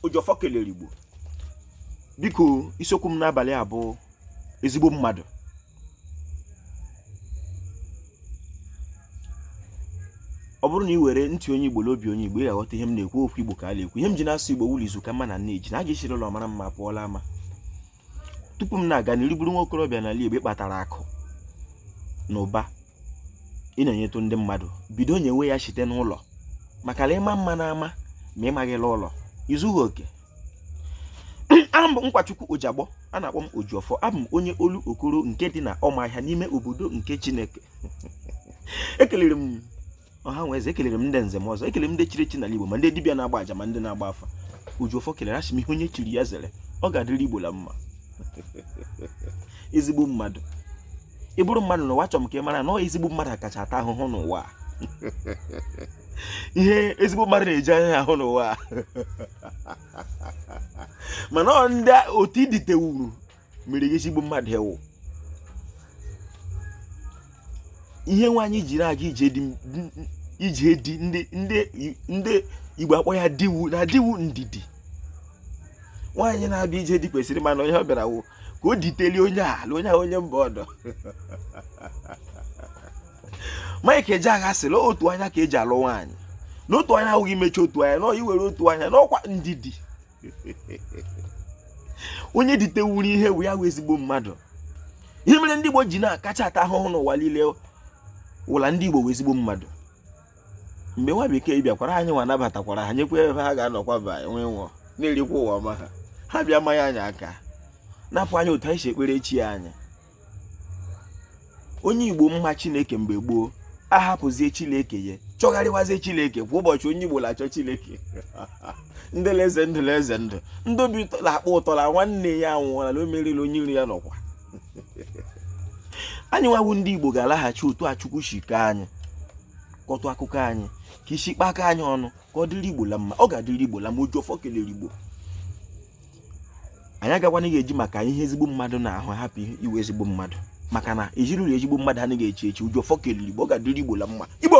ojiọfọ kelere igbo biko isiokwu m n'abalị a bụ ezigbo mmadụ ọ bụrụ na ị were ntị onye igbo na obi onye igbo ị ga-aghọta ihe m na-ekwu okwu igbo ka a na-ekwu ihe m ji na-asụ igbo wụ la izu ka mma na nne ji na a ga-esiri ụlọ mara mma pụọ l'ama tupu m na-aga n'iru ị bụrụ nwa okorobịa n'ala Igbo kpatara akụ na ụba ị na-enyetụ ndị mmadụ bido nyewe ya site n'ụlọ maka na ị ma mma n'ama ma ị maghị l'ụlọ i zughị oke aha m bụ Nkwachukwu Ojiagbọ a na-akpọ m Ojiọfọ abụ m onye Olokoro nke dị na Ọmahịa n'ime obodo nke Chineke ekelere m ọha nwe eze ekelere m ndị nze na ọzọ ekelere m ndị chiri echi n'ala Igbo ma ndị dibịa na-agba aja ma ndị na-agba afa Ojiọfọ kelere asị m ihe onye chiri ya zere ọ ga-adịrị Igbo la mma ezigbo mmadụ ị bụrụ mmadụ n'ụwa achọrọ m ka ị mara na ọ ezigbo mmadụ akacha ata ahụhụ n'ụwa ihe ezigbo mmadụ na-eji anya ya ahụ n'ụwa mana ọ ndị otu i ditewuru mere gị ezigbo mmadụ ị wụ ihe nwaanyị ji na-aga ije di ndị igbo akpọ ya di wụ na di wụ ndidi nwaanyị na-abịa ije di kwesịrị ịma na ihe ọ bịara wụ ka o ditelie onye ala onye ahụ onye mba ọdọ Mike Ejeagha sịrị otu anya ka e ji alụ nwaanyị na otu anya awụghị imechi otu anya na iwere otu anya na ọkwa ndidi onye ditewuru ihe wụ ya wụ ezigbo mmadụ ihe mere ndị Igbo ji na-akacha ata ahụhụ n'ụwa niile wụ la ndị Igbo wụ ezigbo mmadụ mgbe nwa bekee bịakwara anyị nwa nabatakwara ha nyekwa ebe ha ga-anọkwa ba enwe nwụọ na-erikwa ụwa ọma ha ha bịa manye anyị aka napụ anyị otu anyị si ekpere chi anyị onye igbo ma chineke mgbe gboo ahapụzie chineke ya chọgharịwazie chineke kwa ụbọchị onye igbo na-achọ chineke ndịleze ndịleze ndụ ndị obi ụtọ na-akpọ ụtọ na nwanne ya anwụọla na o meriri onye iro ya na ọkwa anyị nwa wụ ndị igbo ga-alaghachi otu a chukwu si kee anyị kọtụ akụkọ anyị ka e si kpakọ anyị ọnụ ka ọ dịrị igbo la mma ọ ga-adịrị igbo la mma ojiọfọ kelere igbo anyị agakwana ga-eji maka ihe ezigbo mmadụ na-ahụ hapụ ịwụ ezigbo mmadụ maka na ezinụlọ ezigbo mmadụ anaghị echi echi ojiọfọ kelere igbo ọ ga-adịrị igbo la mma igbo